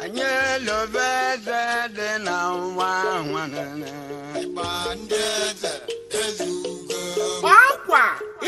anyị elobe eze dị na nwa nwanne ịgba ndị eze ezugo Gba ọkwa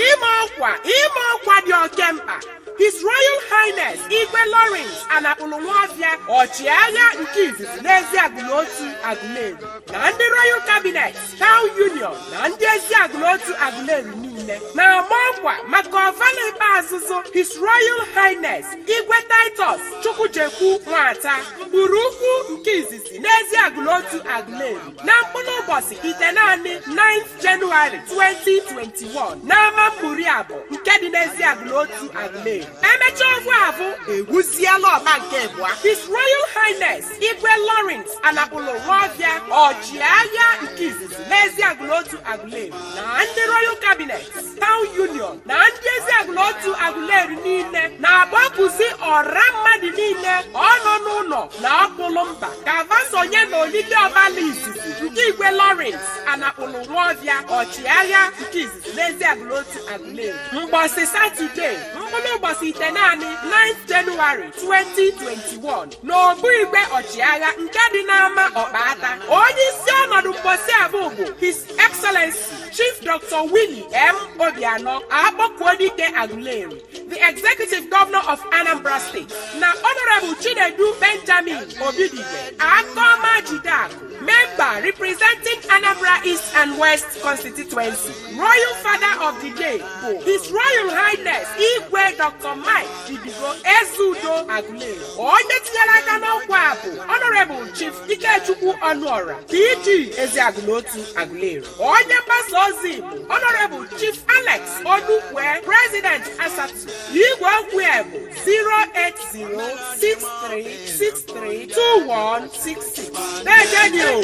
ịma ọkwa ịma ọkwa dị oke mkpa His Royal Highness Igwe Lawrence Anakpụlụ Nwọfịa ọchịagha nke izizi n'ezi agụlotu agụleri na ndị Royal Cabinet taụn union na ndị ezi agụlotu agụleri niile na-ama ọkwa maka ọvala ikpeazụzụ his royal highness igwe titus chukwujekwu nwata mkpụrụ ukwu nke izizi n'ezi agụlotu agụleri na mkpụrụ ụbọsị itenaanị 9th January 2021 n'ama ụmụriabọ nke dị n'ezi agụlotu agụleri emecha ọgwụ avụ ewuziela ọba nke abụọ his royal highness igwe lawrence anakpụlụ nwọfịa ọchịagha nke izizi n'ezi agụlotu agụleri na ndị royal cabinet town union na ndị ezi agụlotu agụleri niile na-akpọkuzi ọra mmadụ niile ọnọ n'ụlọ na ọkpụlụ mba ka va sonye na olili ọvala izizi nke igwe lawrence anakpụlụ nwọfịa ọchịagha nke izizi n'ezi agụlotu agụleri mgbọsị satọde mkpụlụ ụbọsị itenaanị 9 jenụwarị 2021 n'obu igwe ọchịagha nke dị n'ama ọkpata onye isi ọnọdụ mbọsị avụ bụ his excellency chief dr willie m obianọ akpọkuedike aguleri the executive governor of anambra state na honorable chinedu benjamin obidigwe aka ọma jide akụ member representing anambra east and west constituency royal father of the day bụ his royal highness igwe dr mike idigo ezeudo agu onye tinyere aka n'ọkwa a bụ Honorable Chief Ikechukwu Ọnụọra PG Eziagụlotu Agụleri onye mgbasa ozi bụ Honorable Chief Alex Onukwue President Asatu igwe okwu bụ 08063632166 na-ejenye o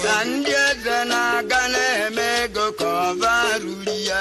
ka ndị eze na-aga na-eme ego ka ọba ruru ya